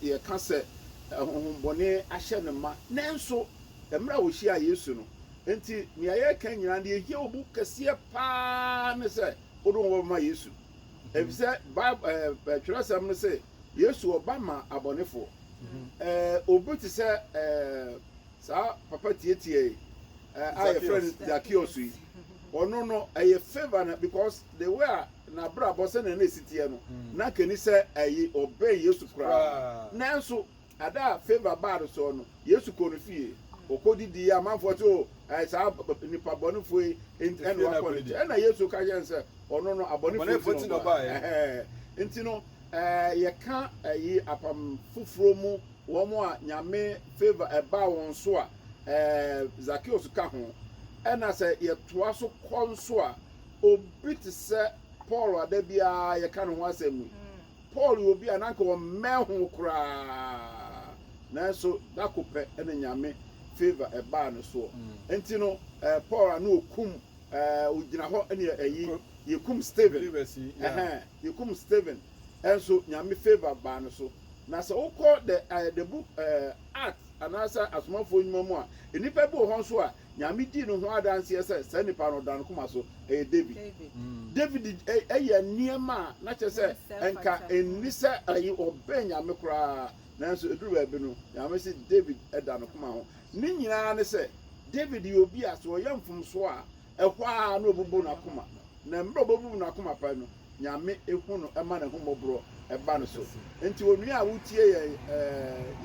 Yɛka sɛ ahonhommɔne ahyɛ no ma, nanso mmerɛ a wɔhyiaa Yesu no nti, deɛ yɛreka nyinaa, deɛ ɛhia wo bu kɛseɛ pa ara ne sɛ wode wo ho bɛma Yesu. Ɛfiri sɛ Bible twerɛsɛm no se, Yesu ɔba ma abɔnefoɔ. Obi te sɛ saa papa tiatia yi a yɛfrɛ no Zakeus yi, ɔno no ɛyɛ favour na because the way a n'abrabɔ sɛnea na esi teɛ no, na anka enni sɛ ɛyɛ ɔbɛn Yesu koraa. Nanso, da a Favour baa no so no, Yesu kɔɔ ne fie. Okodidii, amanfoɔ se, O, ɛyɛ saa nipa bɔnefoɔ yi nti na wakɔ ne nkyɛn. Ɛnna Yesu ka kyerɛɛ no sɛ, Ɔno no, abɔnefoɔ nti na ɔbae. Enti no, yɛka eyi Apam Foforo mu, wɔn a Nyame favour baa wɔn so a, Zakeo nso ka ho. Ɛnna sɛ yɛtoa so kɔ nso a, Obi te sɛ Paul a da biara yɛka ne ho asɛm yi. Paul yɛ obi a na anka ɔmmɛn ho koraa, nanso da ko pɛ na Nyame favour baa ne soɔ. Nti no, Paul a na ɔkum, ɔgyina hɔ ne ayi, yɛkum Stephen, ɛhɛn, yɛkum Stephen nso Nyame favour baa ne so. Na sɛ wokɔ the book Acts anaasɛ Asomafoɔ Nwuma mu a, nnipa bi wɔ hɔ nso a Nyame dii ne ho adanseɛ sɛ saa nipa no ɔda ne koma so, ɛyɛ David. David yɛ nneɛma a na kyerɛ sɛ ɛnka ɛnni sɛ ɔbɛn Nyame koraa, nanso ɛduru baabi no, Nyame se David da ne koma ho. Ne nyinaa ne sɛ, David yɛ obi a sɛ ɔyɛ mfomsoɔ a, ɛhɔ ara na ɔbubu n'akoma, na mmerɛ ɔbɛbubu n'akoma pɛ no, Nyame hu no ma n'ahummɔborɔ ba no so. Enti onua a wotie yɛn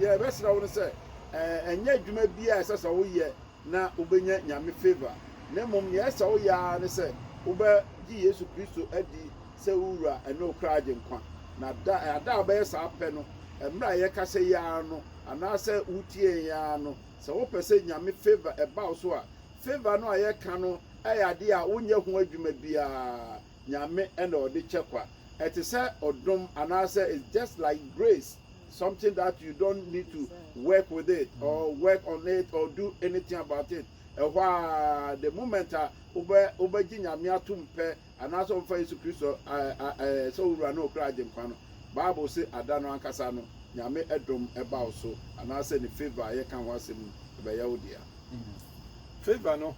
yɛrebɛsrɛ wo no sɛ ɛnyɛ adwuma bi a ɛsɛ sɛ woyɛ na wobɛnya Nyame favour na mmom nea ɛsɛ sɛ woyɛ ara ne sɛ wobɛgye Yesu Kristo adi sɛ wo Wura ne wo kra Agyenkwa na da a da a wobɛyɛ saa pɛ no mmerɛ a yɛkasa yi ara no anaasɛ wotie yɛn ara no sɛ wopɛ sɛ Nyame favour ba wo so a favour no a yɛka no yɛ adeɛ a wonyɛ ho adwuma biara Nyame na ɔde kyɛ kwa. Ɛte sɛ ɔdom anaasɛ it's just like grace, something that you don't need to work with it mm. or work on it or do anything about it. Ɛhɔ a the moment a wobɛ wobɛgye Nyame atom pɛ anaasɛ ɔmfa Yesu Kristo sɛ owura na ɔkura agyenkwa no, Bible se ada no ankasa no Nyame ɛdom ɛba wo so anaasɛ ne favor a yɛka ho asɛm no ɛbɛyɛ wo dea. Mm. Favor no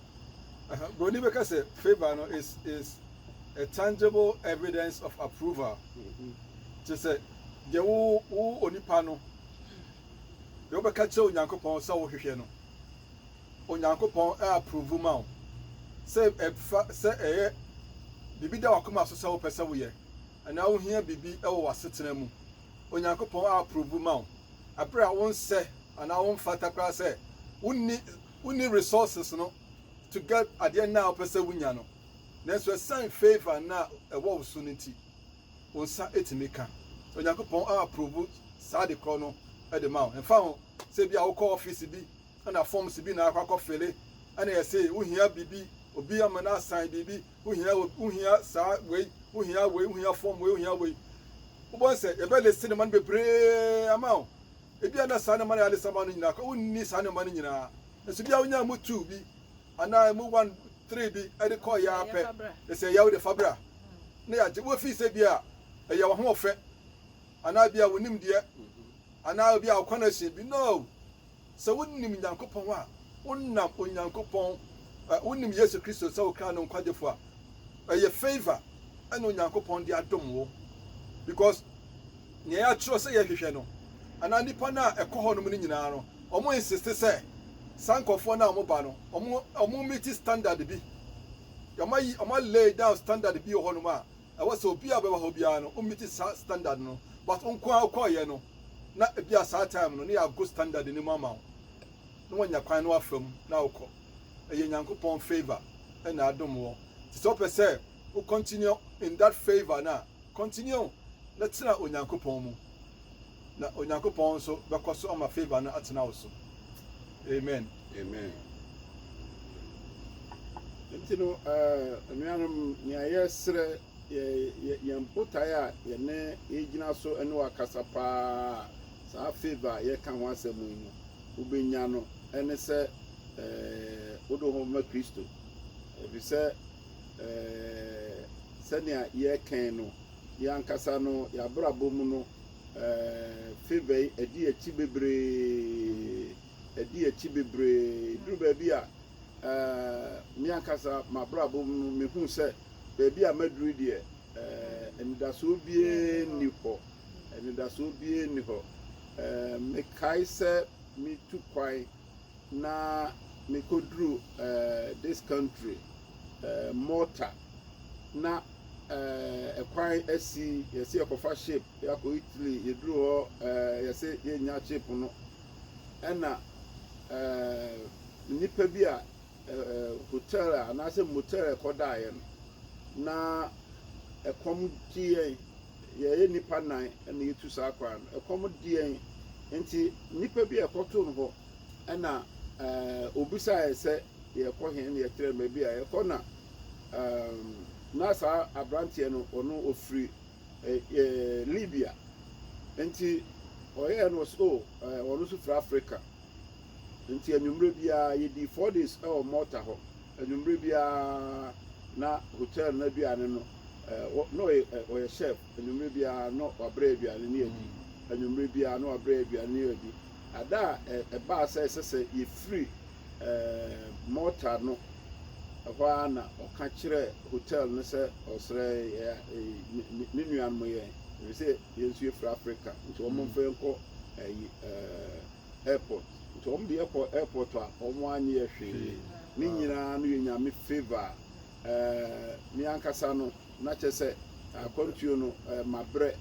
Buroni bɛka sɛ favour no is is a tangible evidence of approval. Te sɛ deɛ wo wo onipa no deɛ wobɛka kyerɛ Onyankopɔn sɛ wohwehwɛ no. Onyankopɔn ɛ approve ma wo sɛ ɛfa sɛ ɛyɛ biribi da wakoma so sɛ wopɛ sɛ woyɛ anaa wohia biribi wɔ w'asetena mu Onyankopɔn approve ma wo bere a wonsɛ anaa womfata koraa sɛ wonni wonni resources no to get adeɛ no a wopɛ sɛ wonya no. Nanso ɛsiane favour no a ɛwɔ wo so no nti, wo nsa tumi ka. Onyankopɔn approve saa ade korɔ no de ma wo. Ɛmfa ho sɛ ebia wokɔ office bi na forms bi na akɔ akɔ fele ɛna ɛse wohia bibi obi ama no asan bibi wohia wohia saa wei wohia wei wohia form wei wohia wei wobɔ sɛ yɛbɛ lese ne ma no bebree ama wo ebi ana saa ne ma no yɛ alesa ma no nyinaa kɔ wonni saa ne ma no nyinaa nso bia wonya mu two bi anaa mu one three bi ɛde kɔ yɛ apɛ ɛsɛ yɛ wo de fabra ne yɛagye wofi sɛ bia ɛyɛ wo ho ɔfɛ anaa bia wonim deɛ anaa bia ɔkwan ahyɛ bi no Sɛ wonim Nyankopɔn a, wonam Onyankopɔn, ɛ, wonim Yesu Kristo sɛ wo kra no nkwagyefoɔ a, ɛyɛ favour ɛna Onyankopɔn de adom wo. Because nea yɛatwerɛ sɛ yɛhwehwɛ no, anaa nnipa no a ɛkɔ hɔnom no nyinaa no, wɔn insiste sɛ saa nkorɔfoɔ no a wɔba no, wɔn, wɔn meeti standard bi. Wɔn ayi, wɔn a lay down standard bi wɔ hɔnom a, ɛwɔ sɛ obi a ɔbɛba hɔ biara no ɔmmiti saa standard no but wo nko ara wokɔɔyɛ no na ebi a saa time no na yɛago standard no mu ama wo na wanya kwan na wafa mu na wokɔ ɛyɛ Nyankopɔn favour ɛna adom wɔ nti sɛ wopɛ sɛ wo continue in that favour no a continue na tena Onyankopɔn mu Na Onyankopɔn nso bɛkɔ so ama favour no atena wo so. Amen. Amen. Nti no, eh, anuanom, nea yɛsrɛ, yɛ, yɛ, yɛn botae a yɛne yɛgyina so ne wakasa paa saa favour a yɛka ho asɛm yi no, wobɛnya no, ɛne sɛ eh, wode wo ho bɛma Kristo. Ɛfiri sɛ, eh, sɛnea yɛkɛn no, yɛn ankasa no, yɛabrabɔ mu no, Favor yi ɛdi akyi bebree, ɛdi akyi bebree. Duru baabi a me ankasa m'abrabɔ mu no mehu sɛ baabi a maduru deɛ anidasoɔ biara nni hɔ, anidasoɔ biara nni hɔ. Mekae sɛ metu kwan. na mekɔduruu this country Malta na ɛkwan asi yɛse yɛkɔfa ship yɛakɔ Italy yɛduruu hɔ yɛse yɛnya ship no ɛna nnipa bi a hotel anaasɛ motel ɛkɔdaeɛ no na ɛkɔm gye yɛn Yɛyɛ nnipa nnan na yɛtu saa kwan no. Ɛkɔm de yɛn nti, nnipa bi a yɛkɔtoo no hɔ na ɔbisaa yɛn sɛ yɛrekɔ he na yɛkyerɛɛ no baabi a yɛrekɔ na na saa aberanteɛ no ɔno ɔfiri Libya nti ɔyɛɛ no ɔse oh ɔno nso firi Africa. Enti anwummere biara, yedii Four Days wɔ Malta hɔ. Anwummere biara na hotɛl no aduane no, na ɔyɛ chef, anwummere biara na wabrɛ aduane no adi. Anwummere biara na wabrɛ aduane no adi. Ada a ɛbaa sɛ ɛsɛ sɛ yefiri Malta no, ɛhɔ ara na ɔka kyerɛɛ hotɛl no sɛ ɔsrɛ yɛn, ne nuanom yɛn, efisɛ Yɛn nso yɛfiri Africa nti wɔn mfa yɛn kɔ ɛyi ɛɛ airport nti wɔn de yɛ kɔ airport a wɔn anyɛ yɛ hwee ne nyinaa no yɛ nyame favour ɛɛ me ankasa no na kyɛ sɛ akwantuo no ɛɛ mabrɛ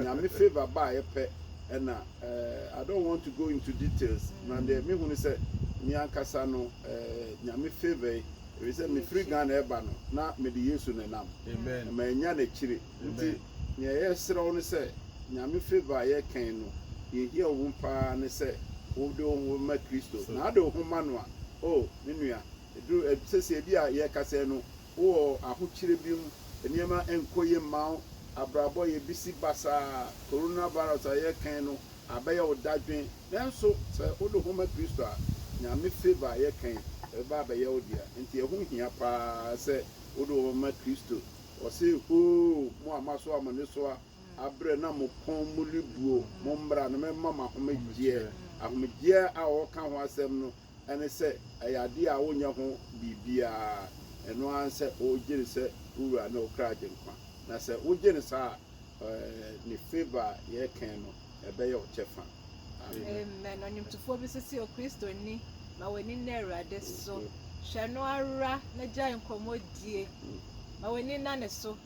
nyame favour baayɛ pɛ ɛna ɛɛ I don't want to go into details na deɛ me hu ne sɛ me ankasa no ɛɛ nyame favour yi ebi sɛ mefiri Ghana ɛba no na mede Yesu nenam ɛma ɛnya n'akyire. Nti nea yɛsrɛ wo ne sɛ Nyame favour a yɛkɛn no yɛhia wo mu paa ne sɛ wo de wo ho ma Kristo na ade wo ho ma no a oh me nua ɛduru sɛsei ebi a yɛkasa yi no wo wɔ ahokyerɛ bi mu nneɛma nkɔ yie mma wo abrabɔ yɛ bisi basaa Corona virus a yɛkɛn no abɛyɛ wo dadwen nanso sɛ wo de wo ho ma Kristo a Nyame favour a yɛkɛn ɛbɛba abɛyɛ wo dea nti ɛho hia paa sɛ wo de wo ho ma Kristo Ɔse, O mo a moaso a mo anesoa abrɛ na mo kɔn mu rebuo, mommra na memma mo ahomegyeɛ. Ahomegyeɛ a ɔreka ho asɛm no ne sɛ ɛyɛ adeɛ a wonyɛ ho biribiara, ɛno ara ne sɛ wogye no sɛ wo Wura ne wo kra Agyenkwa, na sɛ wogye no saa a, Ne favour a yɛrekɛn no, ɛbɛyɛ wo kyɛfa. Amen. Ɔnwomtofoɔ bi nso se, O Kristoni, ma w'ani nna Awurade so. Hwɛ no ara na gyae nkɔmmɔdie. Ma w'ani nna ne so.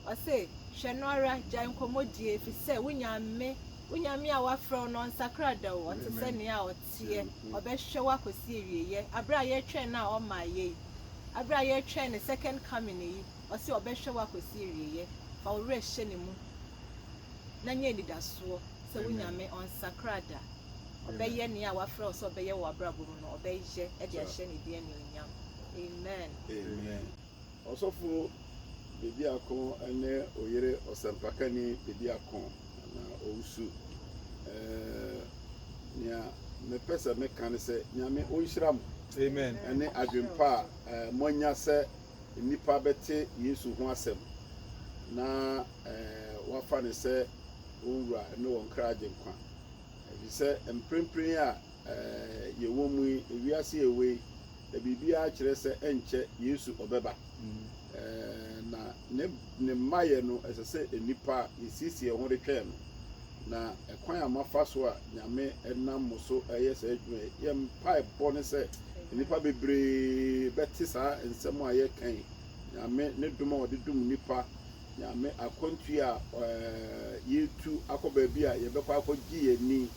Ɔse, hwɛ no ara, gyae nkɔmmɔdie, ɛfiri sɛ wo Nyame, wo Nyame a wafrɛ wo no, ɔnsakra da o, ɔte sɛ nea ɔteɛ. Ɔbɛhwɛ wo akɔsi awieɛ. Aberɛ a yɛretwɛn no a ɔmmaeɛ yi, aberɛ a yɛretwɛn ne second coming yi, ɔse ɔbɛhwɛ wo akosi awieɛ, fa wo werɛ hyɛ ne mu na nya anidasoɔ sɛ wo Nyame ɔnsakra da, ɔbɛyɛ nea wafrɛ wo sɛ ɔbɛyɛ wɔ w'abrabɔ mu no, ɔbɛyɛ de ahyɛ ne din anuonyam. Amen. Amen. Ɔsɔfo Bediako ne oyere Ɔsɛmpakani Bediako anaa Owusu. Ɛɛɛ nea mepɛ sɛ meka ne sɛ Nyame onhyira mo. Amen. Ɛne adwempa a moanya sɛ nnipa bɛte Yesu ho asɛm na wɔafa no sɛ wɔn Wura ne wɔn kra Agyenkwa. Efisɛ mprempren a yɛwɔ mu yi, wiase a ɛwɔ yi, na biribiara kyerɛ sɛ ɛnkyɛ Yesu ɔbɛba, na ne ne mmaeɛ no, ɛsɛ sɛ nnipa a yɛasiesie yɛn ho retwɛn no, na ɛkwan a moafa so a Nyame nam mo so reyɛ saa adwuma yi, yɛn mpaebɔ ne sɛ nnipa bebree bɛte saa nsɛm a yɛreka yi, Nyame ne dom a ɔde dom nnipa, Nyame akwantuo a yɛretu akɔ baabi a yɛbɛkɔ akɔgye yɛn ani.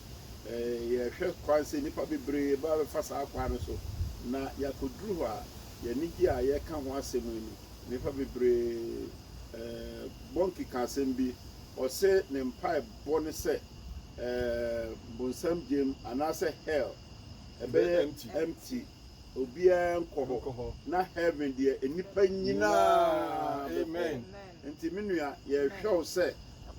Yɛhwɛ kwan sɛ nnipa bebree bɛba bɛfa saa kwan no so, na yɛakɔduru hɔ a, yɛn anigyeɛ a yɛreka ho asɛm yi no, Nnipa bebree bɔ nkekaasɛm bi, ɔse ne mpaebɔ ne sɛ bonsam gyem anaasɛ hell bɛyɛ empty, obiara nkɔ hɔ, na heaven deɛ nnipa nyinaa bɛkɔ hɔ. Nti me nua yɛhwɛ wo sɛ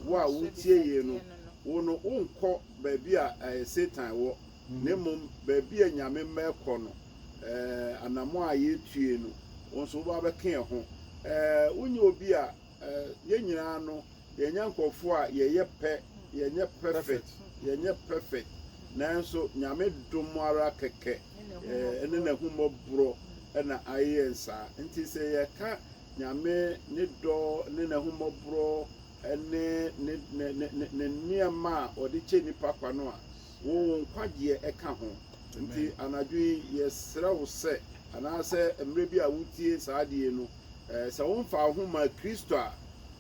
wo a wotie yei no, wo no wonkɔ baabi a Satan wɔ, Na mmom baabi a Nyame mma ɛkɔ no, eh, anammɔn a yɛretue no, wo nso woba bɛka yɛn ho. Eh, wonyɛ obi a, eh, yɛn nyinaa no, yɛnyɛ nkorɔfoɔ a yɛyɛ pɛ, yɛnyɛ perfect, yɛnyɛ perfect, nanso Nyame dom ara kɛkɛ, eh, ɛne N'ahummɔborɔ na ayɛ yɛn saa. Nti sɛ yɛka Nyame Ne dɔ ne N'ahummɔborɔ ne Ne, Ne, Ne, Ne, Ne nneɛma a Ɔde kyɛ nnipa kwa no a, Wo wo nkwagyeɛ ka ho. Nti anadwo yi yɛsrɛ wo sɛ, anaasɛ mmerɛ bi a wotie saa adeɛ yi no, sɛ womfaa wo ho mmaa Kristo a,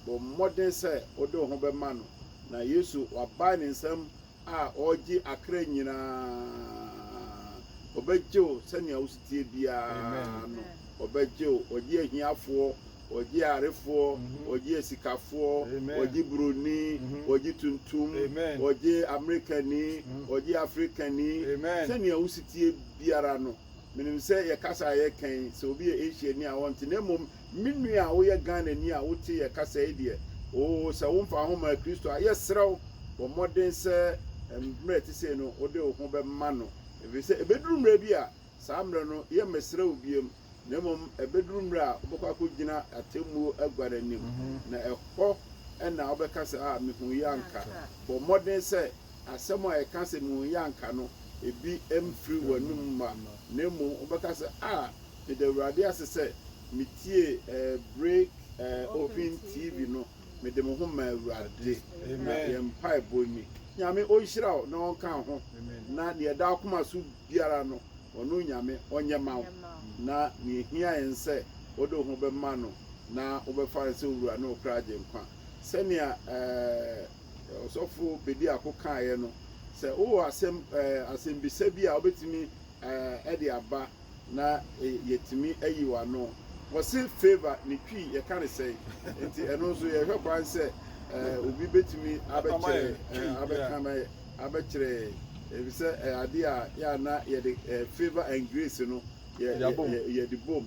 bɔ mmɔden sɛ wode wo ho bɛma no. Na Yesu wabae ne nsam a ɔregye akra nyina ara. Ɔbɛgye wo sɛnea wosoteɛ biara no, ɔbɛgye wo. Ɔgye ahiafoɔ Wɔgye yarefoɔ, wɔgye asikafoɔ, wɔgye buroni, wɔgye tuntum, wɔgye Amerikani, wɔgye Afrikani. Sɛnea wosi teɛ biara no, menim sɛ yɛn kasa a yɛka yi, sɛ obi yɛ Asiani a ɔnte. Na mmom, me nua a woyɛ Ghanani a wote yɛn kasa yi deɛ, oo, sɛ womfa wo ho mmaa Kristo a, yɛsrɛ wo, bɔ mmɔden sɛ mmerɛ a ɛte sei no, wode wo ho bɛma no, ɛfiri sɛ ɛbɛduru mmerɛ bi a, saa mmerɛ no, yɛremmɛsrɛ wo bio. na mmom ɛbɛduru mmerɛ a wobɛkɔ akɔgyina atemmuo agua no anim, na ɛhɔ na wobɛka sɛ, A, mehuiɛ anka. Bɔ mmɔden sɛ asɛm a ɛka sɛ mehuiɛ anka no, ebi mfiri w'anom mma, na mmom wobɛka sɛ, A, meda Awurade ase sɛ metiee Break Open TV no, mede me ho maa Awurade. Na yɛn mpaebɔ ni. Nyame ɔnhyira wo na ɔnka wo ho, na deɛ ɛda w'akoma so biara no, ɔno Nyame ɔnyɛ mma wo, na nea ehia yɛn sɛ wode wo ho bɛma no na wobɛfa no sɛ wo Wura ne wo kra Agyenkwa. Sɛnea eh, Ɔsɔfo Bediako kaeɛ no, sɛ wowɔ asɛm, eh, asɛmbisa bi a wobɛtumi eh, de aba na eh, yɛtumi ayi w'ano. Wɔse favor ne Twi yɛka ne sɛn? Nti ɛno nso yɛhwɛ kwan sɛ eh, obi bɛtumi abɛkyerɛ, eh, abɛka ma yɛ. abɛkyerɛ yɛn efisɛ ɛyɛ ade a yɛ a na yɛde eh, favour and grace no yɛ yɛde bom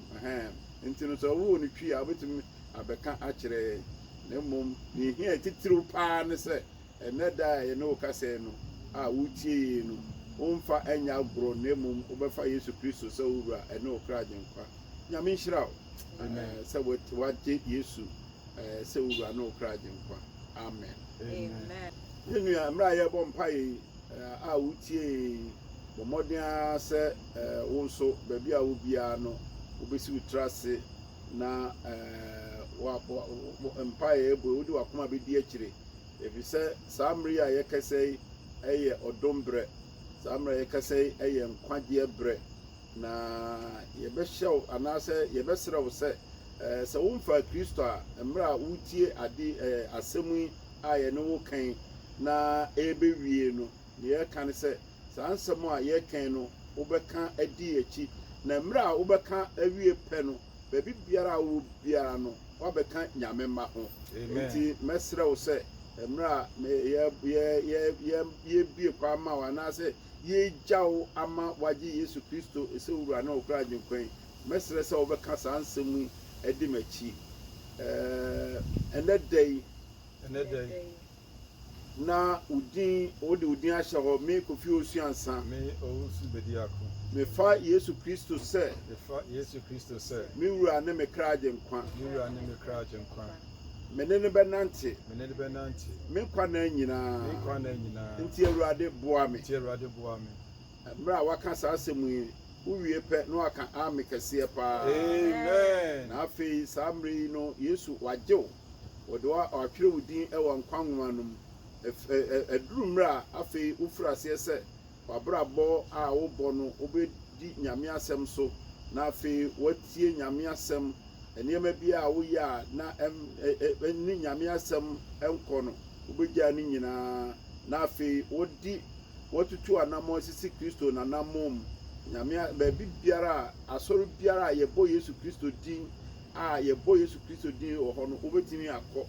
nti no sɛ ɔwoo no twi a wobɛtumi abɛka akyerɛ yɛn na mmom ne ɛhia titiriw paa ne sɛ ɛnɛ da a yɛne wo kasɛɛ no a wotie yei no womfa ɛnyɛ agorɔ na mmom wobɛfa yesu kristo sɛ wo wura ɛne wo kra agyenkwa nyame nhyira wo eh, sɛ wagye yesu Ɛɛ sɛ Owura ne Okra Agyenkwa. Amen. Amen. Yɛn nua, mmerɛ a yɛrebɔ mpaeɛ yi, ɛɛ a wotie yɛn yi, bɔ mmɔden ara sɛ ɛɛ wo nso, baabi a wo biara no, wobɛsi wo tiri ase na ɛɛ wa wa mpaeɛ a ɛbɔ yi, wode wakoma bɛdi akyire. Ɛfiri sɛ saa mmerɛ yi a yɛkasa yi ɛyɛ ɔdom berɛ. Saa mmerɛ a yɛkasa yi ɛyɛ nkwagyeɛ berɛ. Na yɛbɛhyɛ wo anaasɛ yɛbɛsrɛ wo sɛ, sɛ womfaa Kristo a, mmerɛ a woretie ade asɛm yi a yɛne wo reka yi na ɛrebɛwie no, deɛ yɛreka ne sɛ, saa nsɛm a yɛreka yi no wobɛka adi yɛn akyi, na mmerɛ a wobɛka awie pɛ no, baabi biara a wowɔ biara no, woabɛka Nyame mma ho. Enti mɛsrɛ wo sɛ, mmerɛ a yɛrebue kwan ama wo anaasɛ yɛregya wo ama woagye Yesu Kristo sɛ wo Wura ne ɔkra Agyenkwa yi, mɛsrɛ sɛ wobɛka saa nsɛm yi adi m'akyi, ɛɛ, ɛnnɛ da yi. Ɛnnɛ da yi. Na wo din, wode wo din ahyɛ hɔ, me, Kofi Owusu-Ansah. Me, Owusu Bediako. Mefa Yesu Kristo sɛ. Mefa Yesu Kristo sɛ. Me Wura ne me kra Agyenkwa. Me Wura ne me kra Agyenkwa. Me ne no bɛnante. Me ne no bɛnante. Me nkwa nna nyinaa. Me nkwa nna nyinaa. Nti Awurade boa me. Nti Awurade boa me. Mmerɛ a waka saa asɛm yi, wowie pɛ na waka Aame kɛseɛ paa. Amen. Na afei saa mmerɛ yi no Yesu wagye wo. Wɔde wo atwerɛ wo din wɔ nkwa nwoma no mu. Aduru mmerɛ a afei wofiri aseɛ sɛ W'abrabɔ a wobɔ no, wobɛdi Nyame asɛm so, na afei woatie Nyame asɛm. Nneɛma biara a woyɛ a na ɛne Nyame asɛm nkɔ no, wobɛgyaa ne nyinaa, na afei wode woatutu anammɔn asisi Kristo n'anammɔn mu. Nyame, baabi biara a, asɔre biara a yɛbɔ Yesu Kristo din a, yɛbɔ Yesu Kristo din wɔ hɔ no, wobɛtumi akɔ.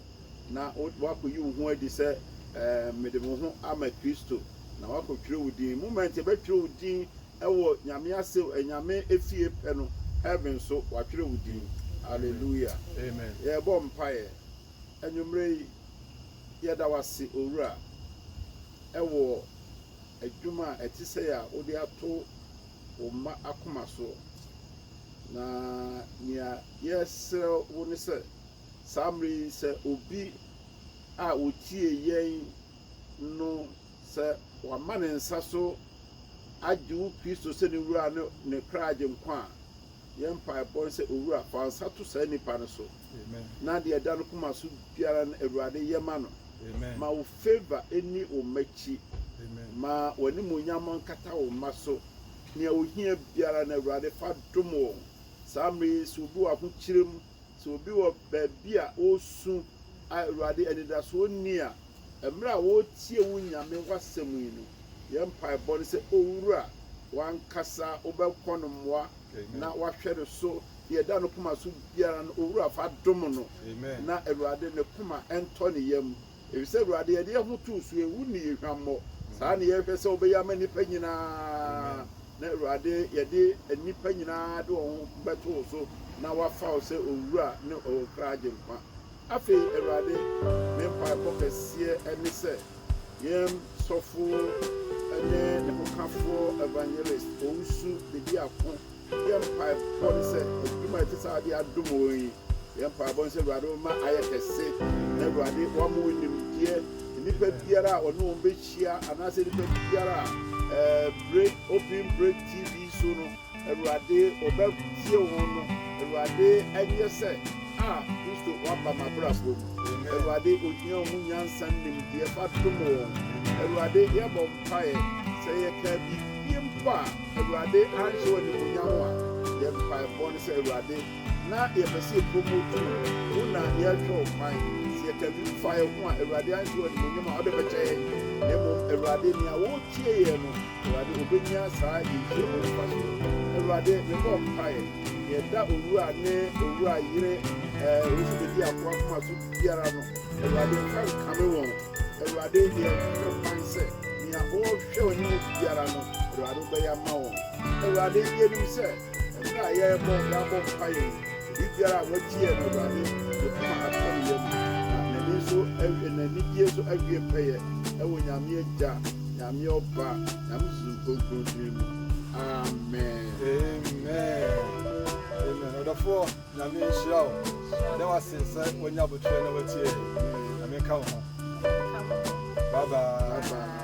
na woakoyi wo ho adi sɛ, Ɛɛ, mede me ho ama Kristo, na woakɔtwerɛ wo din. Moment yɛbɛtwerɛ wo din wɔ Nyame ase, anyame efie pɛ no, heaven so, wɔatwerɛ wo din. Alleluia. Amen. Yɛrebɔ mpaeɛ. Anwummerɛ yi, yɛda wo ase, Owura, wɔ adwuma a ɛte sɛi a wode ato wo mma akoma soɔ. Na nea yɛsrɛ wo ne sɛ, Saa mmere yi, sɛ obi a otie yɛn no, sɛ wama ne nsa so agye wo Kristo sɛ ne Wura ne ne kra Agyenkwa a, yɛn mpaebɔ ne sɛ, Owura, fa wo nsa to saa nipa no so, na deɛ ɛda ne koma so biara no, Awurade, yɛ ma no. Ma wo favor nni wo mma akyi. Ma w'animuonyam nkata wo mma so. Nea ohia biara no, Awurade, fa dom wɔn. Saa mmere yi, sɛ obi wɔ ahokyere mu, Sɛ obi wɔ baabi a ɔresu a Awurade anidasoɔ nni a, mmerɛ a ɔretie wo Nyame w'asɛm yi no, yɛn mpaebɔ ne sɛ Owura w'ankasa wobɛkɔ no mmoa na w'ahwɛ no so, deɛ ɛda no koma so biara no Owura fa dom no na Awurade ne koma ntɔ ne yam Efisɛ Awurade yɛde yɛn ho too so, ehu ne yɛn hwammɔ, saa na yɛhwɛ sɛ wobɛyɛ ama nnipa nyinaa, na Awurade yɛde nnipa nyinaa de wɔn ho bɛto wo so na wɔafa wo sɛ Owura ne wɔn kra Agyenkwa. Afei Awurade, me mpaebɔ kɛseɛ ne sɛ yɛn sɔfo ne ne hokafoɔ Evangelist Owusu Bedi Ako, yɛn mpaebɔ ne sɛ adwuma a ɛte saa de adom wɔn yi, Yɛ mpaebɔ nsɛ Awurade wo mma ayɛ kɛse na Awurade wama wo nimdeɛ nnipa biara a ɔne wɔn bɛhyia anaasɛ nnipa biara a ɛɛ bere open bere TV so no Awurade ɔbɛtie wɔn no Awurade ɛnyɛ sɛ a Kristo waba m'abrabɔ mu Awurade ohia ho nyansa nimdeɛ fa dom wɔn Awurade yɛbɔ mpaeɛ sɛ yɛkaa biribi mpo a Awurade anhyɛ wɔ animuonyam a yɛ mpaebɔ no sɛ Awurade Na yɛpɛ sɛ yɛ promote wo, wo na yɛrekyerɛ wo kwan. Sɛ yɛka biribi fa yɛn ho a, Awurade anhwɛ w'animuonyam a wode bɛkyɛ yɛn, na mmom Awurade, nea woretie yɛn no, Awurade, obenya saa nhyira mu mfaso no. Awurade, mebɔ mpaeɛ, nea ɛda owura ne owura yere, ɛɛ, Rosebedi Akoa akoma so biara no, Awurade, mfa nkame wɔn. Awurade, yɛhwɛ kwan sɛ nea wɔrehwɛ w'anim biara no, Awurade, wobɛyɛ ama wɔn. Awurade, yɛnim sɛ. Mmerɛ a yɛrebɔ yɛabɔ mpaeɛ yi, obibiara a wagye yɛn no Awurade ne koma atɔ ne yam na n'ani nso awie n'anigyeɛ nso awie pɛyɛ ɛwɔ Nyame Agya, Nyame Ɔba, Nyame Sunsum Kronkron din mu. Amen. Amen amen ɔdɔfoɔ nyame nhyira wo yɛda wase sɛ wanya abotrɛ na watie nyame nka wo ho bye bye, bye, bye.